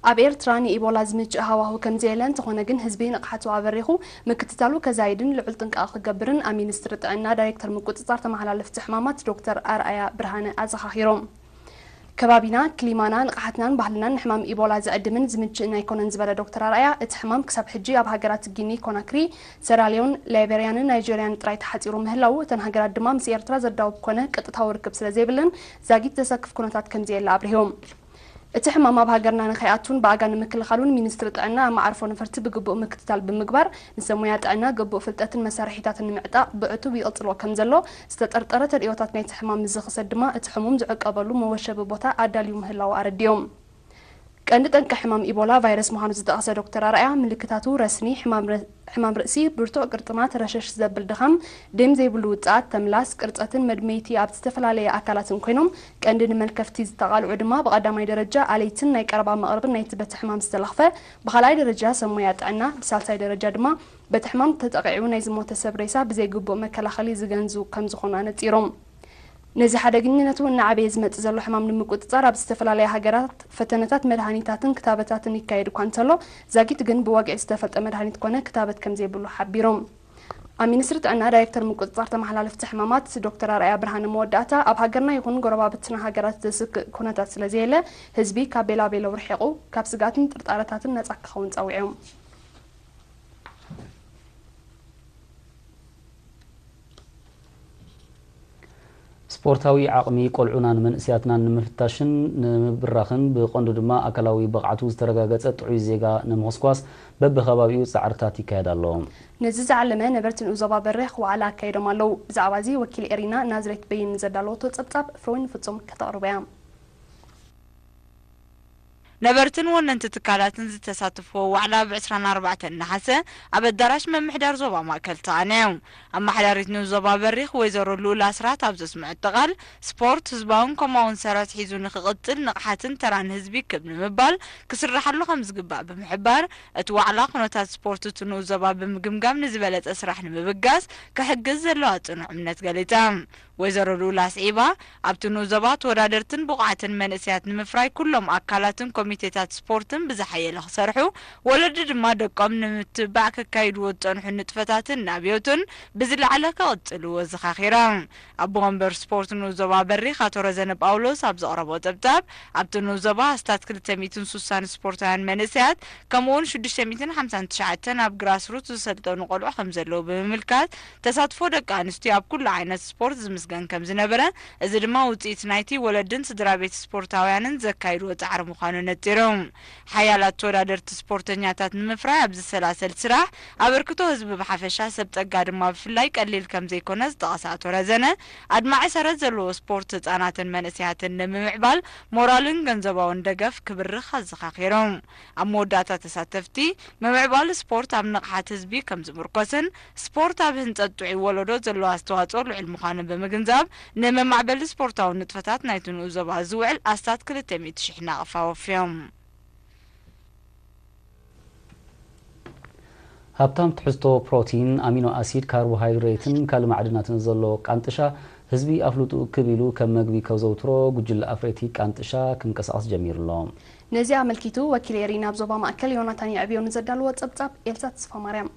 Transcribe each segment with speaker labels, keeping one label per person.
Speaker 1: ኣብ ኤርትራ ንኢቦላ ዝምችእ ሃዋሁ ከምዘየለ እንተኾነ ግን ህዝቢ ንቕሓቱ ኣበሪኹ ምክትታሉ ከዛይድን ልዑል ጥንቃቐ ክገብርን ኣብ ሚንስትሪ ጥዕና ዳይሬክተር ምቁጽጻር ተመሓላለፍቲ ሕማማት ዶክተር ኣርኣያ ብርሃነ ኣዘኻኺሮም። ከባቢና፣ ክሊማና፣ ንቕሓትናን ባህልናን ንሕማም ኢቦላ ዝዕድምን ዝምችእን ኣይኮነን ዝበለ ዶክተር ኣርኣያ፣ እቲ ሕማም ክሳብ ሕጂ ኣብ ሃገራት ጊኒ ኮናክሪ፣ ሰራልዮን፣ ላይበርያን ናይጀርያን ጥራይ ተሓጺሩ ምህላዉ፣ እተን ሃገራት ድማ ምስ ኤርትራ ዘዳውብ ኮነ ቀጥታዊ ርክብ ስለ ዘይብለን ዛጊት ዘሰክፍ ኩነታት ከም ዘየለ ኣብሪሁ። እቲ ሕማም ኣብ ሃገርና ንከይኣቱን ብኣጋ ንምክልኻሉን ሚኒስትሪ ጥዕና ኣብ መዓርፎ ነፈርቲ ብግቡእ ምክትታል ብምግባር ንሰብ ሞያ ጥዕና ግቡእ ፍልጠትን መሳርሒታትን ንምዕጣቕ ብዕቱብ ይቕጽልዎ ከም ዘሎ ዝተጠርጠረ ተርእዮታት ናይቲ ሕማም ምስ ዝኽሰት ድማ እቲ ሕሙም ዝዕቀበሉ መወሸቢ ቦታ ኣዳልዩ ምህላዉ ኣረዲኡ። ቀንዲ ጠንቂ ሕማም ኢቦላ ቫይረስ ምዃኑ ዝጠቐሰ ዶክተር ኣርኣያ፣ ምልክታቱ ረስኒ፣ ሕማም ርእሲ፣ ብርቱዕ ቅርጥማት፣ ረሸሽ ዘብል ድኻም፣ ዴም ዘይብሉ ውጽኣት፣ ተምላስ፣ ቅርጸትን መድመይቲ ኣብ ዝተፈላለየ ኣካላትን ኮይኖም ቀንዲ ንመልከፍቲ ዝተቓልዑ ድማ ብቐዳማይ ደረጃ ኣለይትን ናይ ቀረባ መቕርብን ናይቲ በቲ ሕማም ዝተለኽፈ ብኻልኣይ ደረጃ ሰብ ሞያ ጥዕና ብሳልሳይ ደረጃ ድማ በቲ ሕማም ተጠቒዑ ናይ ዝሞተ ሰብ ሬሳ ብዘይግቡእ መከላኸሊ ዝገንዙ ከምዝኾኑ ኣነጺሮም። ነዚ ሓደገኝነቱ እናዓበየ ዝመጽእ ዘሎ ሕማም ንምቁጽጻር ኣብ ዝተፈላለያ ሃገራት ፈተነታት መድሃኒታትን ክታበታትን ይካየድ እኳ እንተሎ፣ ዛጊት ግን ብወግዒ ዝተፈልጠ መድሃኒት ኮነ ክታበት ከምዘይብሉ ሓቢሮም። ኣብ ሚኒስትሪ ጥዕና ዳይሬክተር ምቁጽጻር ተመሓላለፍቲ ሕማማት ዶክተር ኣርኣያ ብርሃነ መወዳእታ፣ ኣብ ሃገርና ይኹን ጎረባብትና ሃገራት ዘስክእ ኩነታት ስለዘየለ፣ ህዝቢ ካብ ቤላቤለው ርሒቑ ካብ ስግኣትን ጥርጣረታትን ነጻ ክኸውን ጸዊዖም።
Speaker 2: ስፖርታዊ ዓቕሚ ቆልዑናን መንእሰያትናን ንምፍታሽን ንምብራኽን ብቐንዱ ድማ ኣካላዊ ብቕዓቱ ዝተረጋገጸ ጥዑይ ዜጋ ንምኹስኳስ በብከባቢኡ ጻዕርታት ይካየድ ኣሎ። ነዚ ዝዓለመ
Speaker 1: ነበርቲ ንኡስ ዞባ በርህ ዋዕላ ኣካይዶም ኣለዉ። ብዛዕባዚ ወኪል ኤሪና ናዝሬት በይን ንዘዳለወቶ ጸብጻብ ፍረወይኒ ፍጹም ከተቕርቦ'ያ።
Speaker 3: ነበርትን ወነንቲ ትካላትን ዝተሳተፍዎ ዋዕላ ኣብ ዕስራን ኣርባዕተን ነሓሰ ኣብ ኣዳራሽ ምምሕዳር ዞባ ማእከል ተቓንዩ። ኣመሓዳሪት ንኡስ ዞባ በሪኽ ወይዘሮ ልኡል ኣስራት ኣብ ዘስመዐቶ ቃል፣ ስፖርት ህዝባውን ኮማውን ሰረት ሒዙ ንክቕፅል ንቕሓትን ተራን ህዝቢ ክብ ንምባል ክስራሓሉ ከምዝግባእ ብምሕባር፣ እቲ ዋዕላ ኩነታት ስፖርት እቲ ንኡስ ዞባ ብምግምጋም ንዝበለፀ ስራሕ ንምብጋስ ክሕግዝ ዘለዋ ፅኑዕ እምነት ገሊፃ። ወይዘሮ ልኡል ኣስዒባ፣ ኣብቲ ንኡስ ዞባ ተወዳደርትን ብቑዓትን መንእሰያት ንምፍራይ ኩሎም ኣካላትን ኮሚቴታት ስፖርትን ብዝሓየለ ክሰርሑ፣ ወለዲ ድማ ደቆም ንምትብባዕ ከካይድዎ ዝጸንሑ ንጥፈታትን ናብዮትን ብዝለዓለ ክቕጽልዎ ኣዘኻኺራ። ኣቦ ወንበር ስፖርት ንኡስ ዞባ በሪኽ ኣቶ ረዘነ ጳውሎስ ኣብ ዘቕረቦ ጸብጻብ፣ ኣብቲ ንኡስ ዞባ ኣስታት ክልተ ሚእትን ሱሳን ስፖርታውያን መንእሰያት ከምኡ'ውን ሽዱሽተ ሚእትን ሓምሳን ትሽዓተን ኣብ ግራስሩት ዝሰልጠኑ ቆልዑ ከምዘለዉ ብምምልካት፣ ተሳትፎ ደቂ ኣንስትዮ ኣብ ኩሉ ዓይነት ስፖርት ዝምስገን ከምዝነበረ፣ እዚ ድማ ውጽኢት ናይቲ ወለድን ስድራቤት ስፖርታውያንን ዘካይድዎ ጻዕሪ ምዃኑ ነጺሮም። ሓያላት ተወዳደርቲ ስፖርተኛታት ንምፍራይ ኣብ ዝሰላሰል ስራሕ፣ ኣበርክቶ ህዝቢ ብሓፈሻ ሰብ ጸጋ ድማ ብፍላይ ቀሊል ከምዘይኮነ ዝጠቐሰ ኣቶ ረዘነ፣ ኣድማዒ ሰረት ዘለዎ ስፖርት ህጻናትን መንእሰያትን ንምምዕባል ሞራልን ገንዘባውን ደገፍ ክብርኽ ኣዘኻኺሮም። ኣብ መወዳእታ ተሳተፍቲ፣ ምምዕባል ስፖርት ኣብ ንቕሓት ህዝቢ ከምዝምርኮስን፣ ስፖርት ኣብ ህንፀት ጥዑይ ወለዶ ዘለዎ ኣስተዋፅኦ ልዑል ምዃኑ ብምግንዛብ ንመማዕበሊ ስፖርታዊ ንጥፈታት ናይቲ ንኡስ ዞባ ዝውዕል ኣስታት ክልተ ሚእቲ ሽሕ ናቕፋ ወፍዮም።
Speaker 2: ሃብታም ትሕዝቶ ፕሮቲን፣ ኣሚኖ ኣሲድ፣ ካርቦሃይድሬትን ካልእ ማዕድናትን ዘለዎ ቃንጥሻ ህዝቢ ኣፍልጥኡ ክብ ኢሉ ከም መግቢ ከዘውትሮ ጉጅለ ኣፍረይቲ ቃንጥሻ ክንቀሳቐስ ጀሚሩ ኣሎ። ነዚ ኣመልኪቱ
Speaker 1: ወኪል ኤሪ ናብ ዞባ ማእከል ዮናታን የዕብዮ ንዘዳለዎ ጸብጻብ ኤልሳ ተስፋማርያም።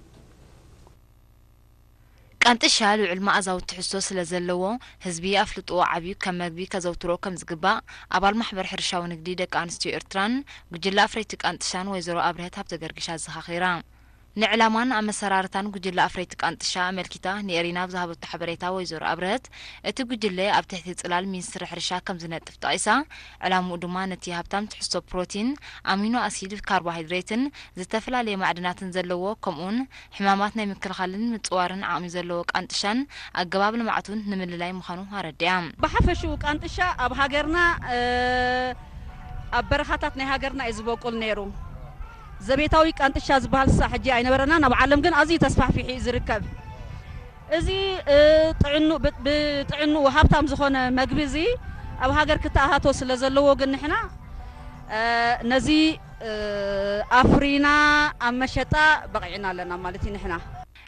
Speaker 4: ቃንጥሻ ልዑል መኣዛዊ ትሕዝቶ ስለ ዘለዎ፣ ህዝቢ ኣፍልጥኡ ዓብዩ ከም መግቢ ከዘውትሮ ከም ዝግባእ፣ ኣባል ማሕበር ሕርሻዊ ንግዲ ደቂ ኣንስትዮ ኤርትራን ጉጅለ ኣፍረይቲ ቃንጥሻን ወይዘሮ ኣብርሀት ሃብተገርግሽ ኣዘኻኺራ። ንዕላማን ኣመሰራርታን ጉጅለ ኣፍረይቲ ቃንጥሻ ኣመልኪታ ንኤሪና ኣብ ዝሃበቶ ሓበሬታ ወይዘሮ ኣብርሀት፣ እቲ ጉጅለ ኣብ ትሕቲ ጽላል ሚንስትሪ ሕርሻ ከም ዝነጥፍ ጠቒሳ፣ ዕላምኡ ድማ ነቲ ሃብታም ትሕዝቶ ፕሮቲን፣ ኣሚኖ ኣሲድ፣ ካርቦሃይድሬትን ዝተፈላለየ ማዕድናትን ዘለዎ ከምኡውን ሕማማት ናይ ምክልኻልን ምጽዋርን ዓቕሚ ዘለዎ ቃንጥሻን ኣገባብ ልምዓቱን ንምልላይ ምዃኑ ኣረዲኣ። ብሓፈሽኡ ቃንጥሻ
Speaker 5: ኣብ ሃገርና ኣብ በረኻታት ናይ ሃገርና እዩ ዝበቁል ነይሩ። ዘቤታዊ ቃንጥሻ ዝበሃል ስሳዕ ሕጂ ኣይነበረናን፣ ኣብ ዓለም ግን ኣዝዩ ተስፋሕፊሑ እዩ ዝርከብ። እዚ ጥዕንኡ ብጥዕንኡ ሃብታም ዝኾነ መግቢ እዚ ኣብ ሃገር ክተኣታቶ ስለ ዘለዎ ግን ንሕና ነዚ ኣፍሪና ኣብ መሸጣ በቒዕና ኣለና ማለት እዩ። ንሕና።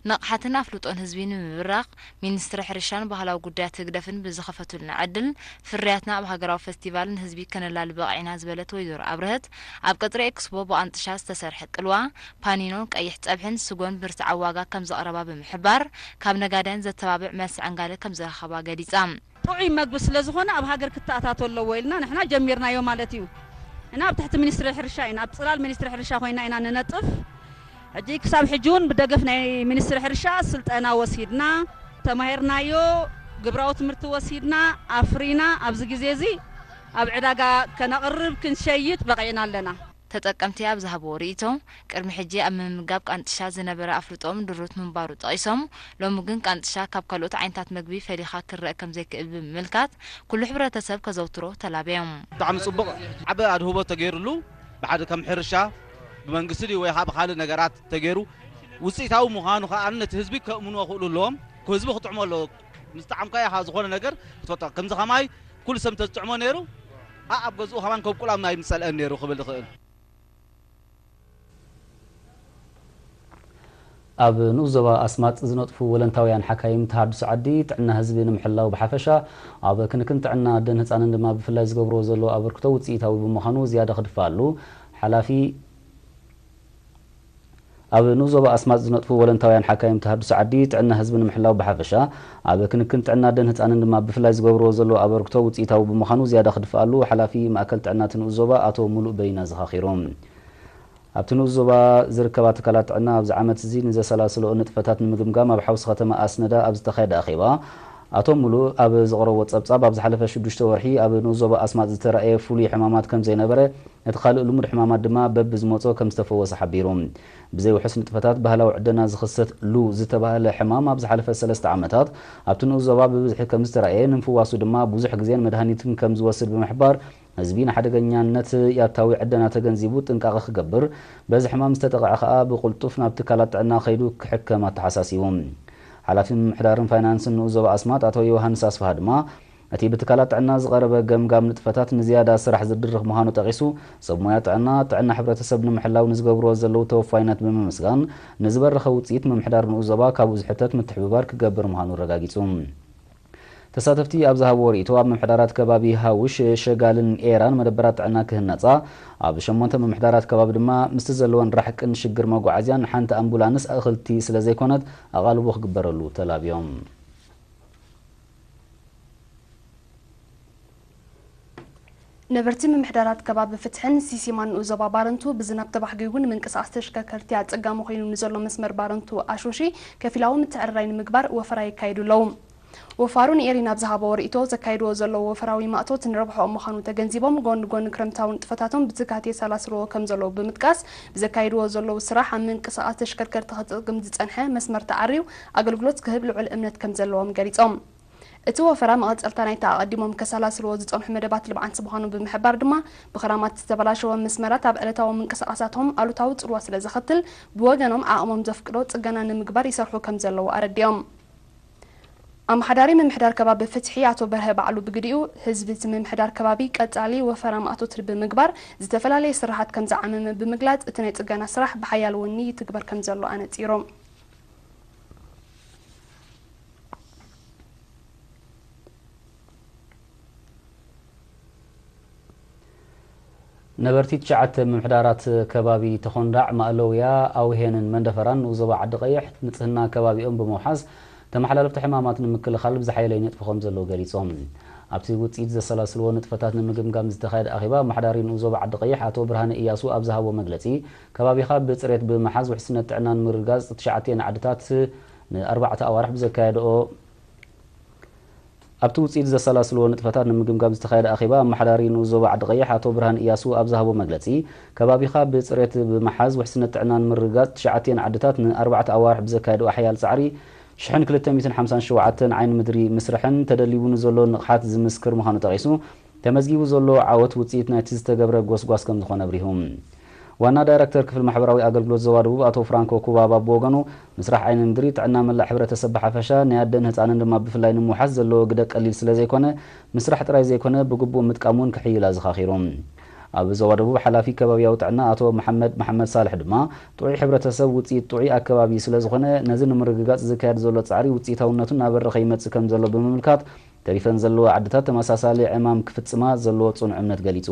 Speaker 4: ንቕሓትን ኣፍልጦን ህዝቢ ንምብራኽ ሚኒስትሪ ሕርሻን ባህላዊ ጉዳያት ህግደፍን ብዝኸፈቱልና ዕድል ፍርያትና ኣብ ሃገራዊ ፈስቲቫል ንህዝቢ ከነላሊ በቒዕና ዝበለት ወይዘሮ ኣብርሀት፣ ኣብ ቀጽሪ ኤክስፖ ብቓንጥሻ ዝተሰርሐ ቅልዋ፣ ፓኒኖ፣ ቀይሕ ጸብሕን ስጎን ብርትዓዊ ዋጋ ከምዘቕረባ ብምሕባር፣ ካብ ነጋድያን ዘተባብዕ መልሲ ዕንጋለ ከምዝረኸባ ገሊጻ። ጥዑይ መግቢ
Speaker 5: ስለዝኾነ ኣብ ሃገር ክተኣታቶ ኣለዎ ኢልና ንሕና ጀሚርናዮ ማለት እዩ እና ኣብ ትሕቲ ሚኒስትሪ ሕርሻ ኢና ኣብ ፅላል ሚኒስትሪ ሕርሻ ኮይና ኢና ንነጥፍ ሕጂ ክሳብ ሕጂ እውን ብደገፍ ናይ ሚኒስትሪ ሕርሻ ስልጠና ወሲድና ተማሂርናዮ ግብራዊ ትምህርቲ ወሲድና ኣፍሪና ኣብዚ ግዜ እዚ ኣብ ዕዳጋ ከነቕርብ ክንሸይጥ በቒዕና ኣለና። ተጠቀምቲ ኣብ
Speaker 4: ዝሃብዎ ርኢቶ፣ ቅድሚ ሕጂ ኣብ ምምጋብ ቃንጥሻ ዝነበረ ኣፍልጦኦም ድሩት ምንባሩ ጠቒሶም፣ ሎሚ ግን ቃንጥሻ ካብ ካልኦት ዓይነታት መግቢ ፈሊኻ ክረኣ ከምዘይክእል ብምምልካት፣ ኩሉ ሕብረተሰብ ከዘውትሮ ተላብዮም። ብጣዕሚ ጽቡቕ
Speaker 6: ዓቢ ኣድህቦ ተገይርሉ ብሓደ ከም ሕርሻ ብመንግስቲ ድዩ ወይ ከኣ ብኻልእ ነገራት ተገይሩ ውጽኢታዊ ምዃኑ ከኣ ነቲ ህዝቢ ከእምንዎ ክእሉ ኣለዎም ህዝቢ ክጥዕሞ ኣለዎ ምስ ጠዓምካዮ ኢኻ ዝኾነ ነገር ክትፈጥር ከምዚ ከማይ ኩሉ ሰብ እንተ ዝጥዕሞ ነይሩ ኣኣብ ገዝኡ ከማን ከብቁላም ናይ ምጸልኣን ነይሩ ክብል ይኽእል።
Speaker 2: ኣብ ንኡስ ዞባ ኣስማጥ ዝነጥፉ ወለንታውያን ሓካይም ተሃድሶ ዓዲ ጥዕና ህዝቢ ንምሕላው ብሓፈሻ፣ ኣብ ክንክን ጥዕና ኣደን ህጻንን ድማ ብፍላይ ዝገብርዎ ዘለዉ ኣበርክቶ ውጽኢታዊ ብምዃኑ ዝያዳ ክድፋኣሉ ሓላፊ ኣብ ንኡስ ዞባ ኣስማጥ ዝነጥፉ ወለንታውያን ሓካይም ተሃድሶ ዓዲ፣ ጥዕና ህዝቢ ንምሕላው ብሓፈሻ፣ ኣብ ክንክን ጥዕና ኣደን ህጻንን ድማ ብፍላይ ዝገብርዎ ዘለዉ ኣበርክቶ ውጽኢታዊ ብምዃኑ ዝያዳ ክድፋኣሉ ሓላፊ ማእከል ጥዕና እቲ ንኡስ ዞባ ኣቶ ሙሉእ በይነ ኣዘኻኺሩ። ኣብቲ ንኡስ ዞባ ዝርከባ ትካላት ጥዕና ኣብዚ ዓመት'ዚ ንዘሰላስለኦ ንጥፈታት ንምግምጋም ኣብ ሓውሲ ከተማ ኣስነዳ ኣብ ዝተኻየደ ኣኼባ፣ ኣቶ ሙሉ ኣብ ዘቕረቦ ጸብጻብ፣ ኣብ ዝሓለፈ ሽዱሽተ ወርሒ ኣብ ንኡስ ዞባ ኣስማጥ ዝተራእየ ፍሉይ ሕማማት ከም ዘይነበረ፣ እቲ ካልእ ልሙድ ሕማማት ድማ በቢ ዝመጾ ከም ዝተፈወሰ ሓቢሩ። ብዘይ ውሑስ ንጥፈታት ባህላዊ ዕደና ዝኽሰት ሉ ዝተባህለ ሕማም ኣብ ዝሓለፈ ሰለስተ ዓመታት ኣብቲ ንኡስ ዞባ ብብዝሒ ከም ዝተራእየ፣ ንምፍዋሱ ድማ ብዙሕ ግዜን መድሃኒትን ከም ዝወስድ ብምሕባር፣ ህዝቢ ንሓደገኛነት ያታዊ ዕደና ተገንዚቡ ጥንቃቐ ክገብር፣ በዚ ሕማም ዝተጠቕዐ ከኣ ብቕልጡፍ ናብ ትካላት ጥዕና ከይዱ ክሕከም ኣተሓሳሲቡ። ሓላፊ ምምሕዳርን ፋይናንስን ንኡስ ዞባ ኣስማጥ ኣቶ ዮውሃንስ ኣስፍሃ ድማ፣ እቲ ብትካላት ጥዕና ዝቐረበ ገምጋም ንጥፈታት ንዝያዳ ስራሕ ዝድርኽ ምዃኑ ጠቒሱ፣ ሰብ ሞያ ጥዕና፣ ጥዕና ሕብረተሰብ ንምሕላው ንዝገብርዎ ዘለዉ ተወፋይነት ብምምስጋን፣ ንዝበረኸ ውጽኢት ምምሕዳር ንኡስ ዞባ ካብኡ ዝሕተት ምትሕብባር ክገብር ምዃኑ ኣረጋጊጹ። ተሳተፍቲ ኣብ ዝሃብዎ ሪኢቶ ኣብ ምምሕዳራት ከባቢ ሃውሽ፣ ሸጋልን ኤራን መደበራት ጥዕና ክህነፃ፣ ኣብ ሸሞንተ ምምሕዳራት ከባቢ ድማ ምስቲ ዘለወን ራሕቂን ሽግር መጓዓዝያን ሓንቲ ኣምቡላንስ ኣእኽልቲ ስለዘይኮነት ኣቓልቦ ክግበረሉ ተላብዮም።
Speaker 1: ነበርቲ ምምሕዳራት ከባቢ ፍትሕን ሲሲማን ንኡስ ዞባ ባረንቱ ብዝናብ ተባሕጒጉ ንምንቅስቓስ ተሽከርከርቲ ኣፀጋሚ ኮይኑ ንዘሎ መስመር ባረንቱ ኣሹሺ ከፊላዊ ምትዕርራይ ንምግባር ወፈራ የካይዱ ኣለዉ። ወፋሩ ንኤሪና ኣብ ዝሃበዎ ርኢቶ፣ ዘካይድዎ ዘለዉ ወፈራዊ ማእቶት ንረብሐኦም ምዃኑ ተገንዚቦም ጎኒ ጎኒ ክረምታዊ ንጥፈታቶም ብትግሃት የሰላስልዎ ከምዘለዉ ብምጥቃስ ብዘካይድዎ ዘለዉ ስራሕ ኣብ ምንቅስቓስ ተሽከርከርቲ ከፀግም ዝፀንሐ መስመር ተዓርዩ ኣገልግሎት ክህብ ልዑል እምነት ከምዘለዎም ገሊፆም። እቲ ወፈራ መቐጸልታ ናይቲ ኣቐዲሞም ከሰላስልዎ ዝጸንሑ መደባት ልምዓት ምዃኑ ብምሕባር ድማ፣ ብኽራማት ዝተበላሸወ መስመራት ኣብ ዕለታዊ ምንቅስቓሳቶም ኣሉታዊ ጽልዋ ስለዘኸትል ብወገኖም ዓቕሞም ዘፍቅዶ ጽገና ንምግባር ይሰርሑ ከምዘለዉ ኣረዲኦም። ኣመሓዳሪ ምምሕዳር ከባቢ ፍትሒ ኣቶ በርሀ ባዕሉ ብግዲኡ፣ ህዝቢ እቲ ምምሕዳር ከባቢ ቀጻሊ ወፈራ ማእቶት ብምግባር ዝተፈላለየ ስርሓት ከምዝዓመመ ብምግላጽ፣ እቲ ናይ ጽገና ስራሕ ብሓያል ወኒ ይትግበር ከምዘሎ ኣነጺሩ።
Speaker 2: ነበርቲ ትሽዓተ ምምሕዳራት ከባቢ ተኾንዳዕ፣ ማእለውያ፣ ኣውሄንን መንደፈራን ንኡስ ዞባ ዓዲ ቐይሕ ንፅህና ከባቢኦም ብምውሓስ ተመሓላለፍቲ ሕማማት ንምክልኻል ብዝሓየለ ይነጥፉ ከምዘለዉ ገሊፆም። ኣብቲ ውፅኢት ዘሰላስልዎ ንጥፈታት ንምግምጋም ዝተኻየደ ኣኼባ ኣመሓዳሪ ንኡስ ዞባ ዓዲ ቐይሕ ኣቶ ብርሃነ እያሱ ኣብ ዝሃቦ መግለፂ ከባቢኻ ብፅሬት ብምሓዝ ውሕስነት ጥዕና ንምርግጋፅ ትሽዓቲኤን ዓድታት ንኣርባዕተ ኣዋርሕ ብዘካየደኦ ኣብቲ ውፅኢት ዘሰላስልዎ ንጥፈታት ንምግምጋም ዝተኻየደ ኣኼባ ኣመሓዳሪ ንኡስ ዞባ ዓዲ ቐይሕ ኣቶ ብርሃን ኢያሱ ኣብ ዝሃቦ መግለፂ ከባቢኻ ብፅሬት ብምሓዝ ውሕስነት ጥዕና ንምርግጋፅ ትሽዓቲኤን ዓድታት ንኣርባዕተ ኣዋርሕ ብዘካየደኦ ሓያል ፃዕሪ ሽሕን ክልተ ሚእትን ሓምሳን ሸውዓተን ዓይኒ ምድሪ ምስረሐን ተደሊቡ ንዘሎ ንቕሓት ዝምስክር ምዃኑ ጠቒሱ ተመዝጊቡ ዘሎ ዓወት ውፅኢት ናይቲ ዝተገብረ ጎስጓስ ከምዝኾነ ኣብሪሁ። ዋና ዳይረክተር ክፍሊ ማሕበራዊ ኣገልግሎት ዞባ ደቡብ ኣቶ ፍራንኮ ኩባባ ብወገኑ፣ ምስራሕ ዓይኒ ምድሪ፣ ጥዕና መላእ ሕብረተሰብ ብሓፈሻ፣ ናይ ኣደን ህፃንን ድማ ብፍላይ ንምውሓስ ዘለዎ ግደ ቀሊል ስለዘይኮነ፣ ምስራሕ ጥራይ ዘይኮነ ብግቡእ ምጥቃም እውን ክሕይል ኣዘኻኺሩ። ኣብ ዞባ ደቡብ ሓላፊ ከባቢያዊ ጥዕና ኣቶ መሓመድ መሓመድ ሳልሕ ድማ፣ ጥዑይ ሕብረተሰብ ውፅኢት ጥዑይ ኣከባቢ ስለዝኾነ፣ ነዚ ንምርግጋፅ ዝካየድ ዘሎ ፃዕሪ ውፅኢታውነቱ እናበረኸ ይመፅእ ከምዘሎ ብምምልካት፣ ተሪፈን ዘለዋ ዓድታት ተመሳሳሊ ዕማም ክፍጽማ ዘለዎ ጽኑዕ እምነት ገሊጹ።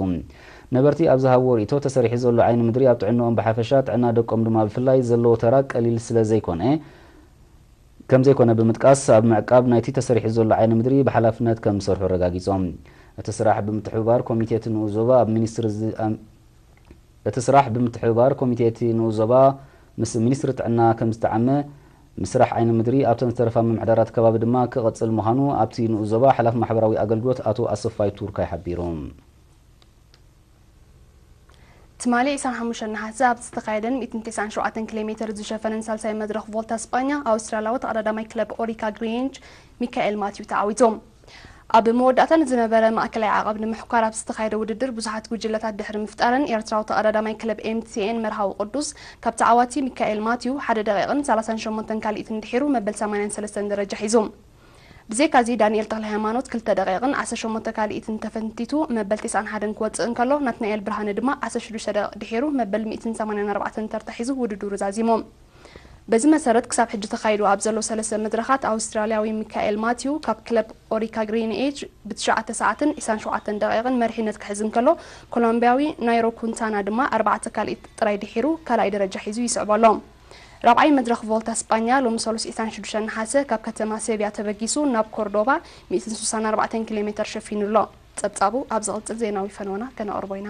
Speaker 2: ነበርቲ ኣብ ዝሃብዎ ርእይቶ፣ ተሰሪሑ ዘሎ ዓይኒ ምድሪ ኣብ ጥዕንኦም ብሓፈሻ፣ ጥዕና ደቆም ድማ ብፍላይ ዘለዎ ተራ ቀሊል ስለዘይኮነ ከምዘይኮነ ብምጥቃስ፣ ኣብ ምዕቃብ ናይቲ ተሰሪሑ ዘሎ ዓይኒ ምድሪ ብሓላፍነት ከምዝሰርሑ ኣረጋጊጾም። እቲ ስራሕ ብምትሕብባር ኮሚቴ እቲ ንኡስ ዞባ ኣብ ሚኒስትሪ እቲ ስራሕ ብምትሕብባር ኮሚቴ እቲ ንኡስ ዞባ ምስ ሚኒስትሪ ጥዕና ከምዝተዓመ፣ ምስራሕ ዓይኒ ምድሪ ኣብተን ዝተረፋ ምምሕዳራት ከባቢ ድማ ክቕፅል ምዃኑ ኣብቲ ንኡስ ዞባ ሓላፊ ማሕበራዊ ኣገልግሎት ኣቶ ኣሰፋይ ቱርካይ ሓቢሮም።
Speaker 1: ትማሊ ዕስራን ሓሙሽተን ነሓሰ ኣብ ዝተኻየደን ሚእትን ተስዓን ሸውዓተን ኪሎ ሜተር ዝሸፈነን ሳልሳይ መድረኽ ቮልታ ስጳኛ ኣውስትራልያዊ ተቐዳዳማይ ክለብ ኦሪካ ግሪንዊች ሚካኤል ማቲው ተዓዊቱ። ኣብ መወዳእታ ንዝነበረ ማእከላይ ዓቐብ ንምሕኳር ኣብ ዝተኻየደ ውድድር ብዙሓት ጉጅለታት ድሕሪ ምፍጣረን፣ ኤርትራዊ ተቐዳዳማይ ክለብ ኤምቲኤን መርሃዊ ቅዱስ፣ ካብ ተዓዋቲ ሚካኤል ማቲው ሓደ ደቒቕን ሰላሳን ሸሞንተን ካልኢትን ድሒሩ መበል ሰማንያን ሰለስተን ደረጃ ሒዙ። ብዘይካ'ዚ ዳኒኤል ተኽለሃይማኖት ክልተ ደቒቕን ዓሰርተ ሸሞንተ ካልኢትን ተፈንቲቱ መበል ተስዓን ሓደን ክወጽእ እንከሎ፣ ናትናኤል ብርሃነ ድማ ዓሰርተ ሽዱሽተ ደቒቕ ድሒሩ መበል ሚእትን ሰማንያን ኣርባዕተን ተርታ ሒዙ ውድድሩ ዛዚሙ። በዚ መሰረት ክሳብ ሕጂ ተኻይዱ ኣብ ዘሎ ሰለስተ መድረኻት ኣውስትራልያዊ ሚካኤል ማቲው ካብ ክለብ ኦሪካ ግሪንኤጅ ብትሽዓተ ሰዓትን ዒስራን ሸውዓተን ደቒቕን መሪሕነት ክሕዝ እንከሎ ኮሎምብያዊ ናይሮ ኩንታና ድማ ኣርባዕተ ካልኢት ጥራይ ድሒሩ ካልኣይ ደረጃ ሒዙ ይስዕቦ ኣሎ። ራብዓይ መድረኽ ቮልታ ስጳኛ ሎሚ ሰሉስ ዒስራን ሽዱሽተን ነሓሰ ካብ ከተማ ሴቪያ ተበጊሱ ናብ ኮርዶባ ሚእትን ስሳን ኣርባዕተን ኪሎ ሜተር ሸፊኑ ኣሎ። ጸብጻቡ ኣብ ዝቕጽል ዜናዊ ፈነወና ከነቕርቦ ኢና።